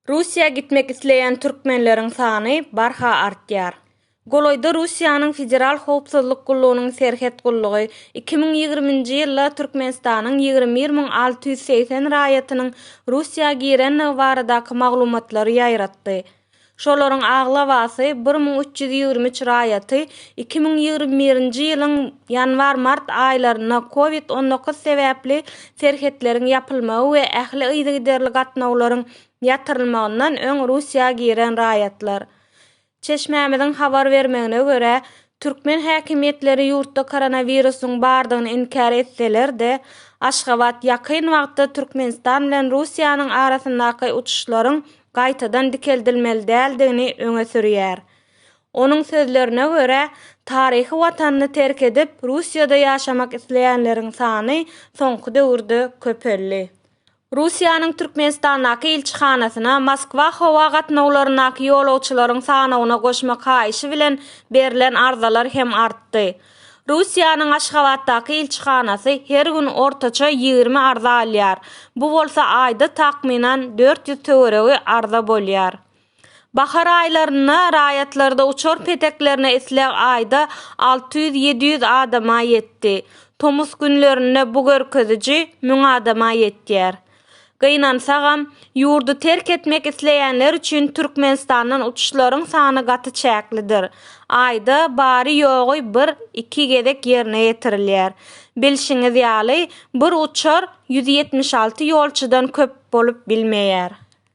Russiýa gitmek isleýän türkmenleriň sany barha artýar. Golaýda Russiýanyň Federal howpsuzlyk gullugynyň Serhet gullugy iki müň ýigrimi nji ýylda Türkmenistanyň ýigrimi bir müň alty ýüz segsen raýatynyň Russiýa girendigi baradaky maglumatlary ýaýratdy. Şolaryň aglabasy, bir müň üç ýüz ýigrimi üç raýaty iki müň ýigrimi birinji ýylyň ýanwar-mart aýlarynda Covid on dokuz sebäpli serhetleriň ýapylmagy we ähli yzygiderli gatnawlaryň ýatyrylmagyndan öň Russiýa giren raýatlar. Çeşmämiziň habar bermegine görä, türkmen häkimiýetleri ýurtda koronawirusyň bardygyny inkär etseler-de, Aşgabat ýakyn wagtda Türkmenistan bilen Russiýanyň arasyndaky uçuşlaryň gaýtadan dikeldilmeli däldigini öňe sürýär. Onuň sözlerine görä, taryhy Watanyny terk edip, Russiýada ýaşamak isleýänleriň sany soňky döwürde köpeldi. Russiýanyň Türkmenistandaky ilçihanasyna Moskwa howa gatnawlaryndaky ýolagçylaryň sanawyna goşmak haýyşy bilen berlen arzalar hem artdy. Russiýanyň Aşgabatdaky ilçihanasy her gün ortaça ýigrimi arza alýar, bu bolsa aýda takmynan dört ýüz töweregi arza bolýar. Bahar aýlarynda raýatlarda uçar peteklerine isleg aýda alty ýüz-ýedi ýüz adama ýetdi, tomus günlerinde bu görkeziji müň adama ýetýär. Gynansagam, ýurdy terk etmek isleýänler üçin Türkmenistandan uçuşlaryň sany gaty çäklidir. Aýda bary-ýogy bir, iki gezek ýerine ýetirilýär. Bilşiňiz ýaly, bir uçar ýüz ýetmiş alty ýolçudan köp bolup bilmeýär.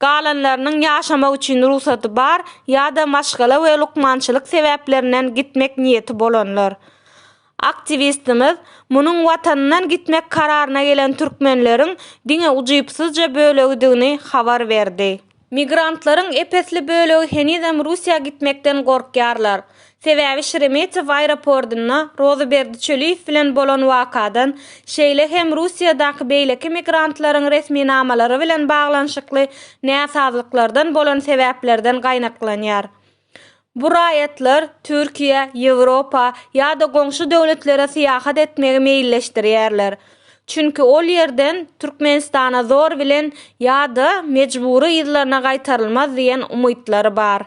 galanlarynyň ýaşamak üçin rugsady bar ýa-da maşgala we lukmançylyk sebäplerinden gitmek niýeti bolanlar. Aktiwistimiz munuň watanyndan gitmek kararyna gelen türkmenleriň diňe ujypsyzja bölegidigini habar berdi. Migrantlaryň ep-esli bölegi henizem Russiýa gitmekden gorkýarlar. Sebäbi Şeremetew aeropordynda Rozyberdi Çöliýew bilen bolan wakadan, şeýle hem Russiýadaky beýleki migrantlaryň resminamalary bilen baglanyşykly näsazlyklardan bolan sebäplerden gaýnaklanýar. Bu raýatlar Türkiýä, Ýewropa ýa-da goňşy döwletlere syýahat etmegi meýilleşdirýärler. Çünki ol ýerden Türkmenistana zor bilen ýa-da mejbury yzlaryna gaýtarylmaz diýen umytlary bar.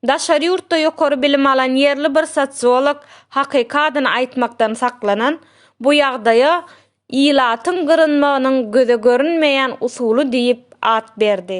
Daşary ýurtda ýokary bilim alan ýerli bir sosiolog hakyky adyny aýtmakdan saklanan, bu ýagdaýa ilatyň gyrynmagynyň göze görünmeýän usuly diýip at berdi.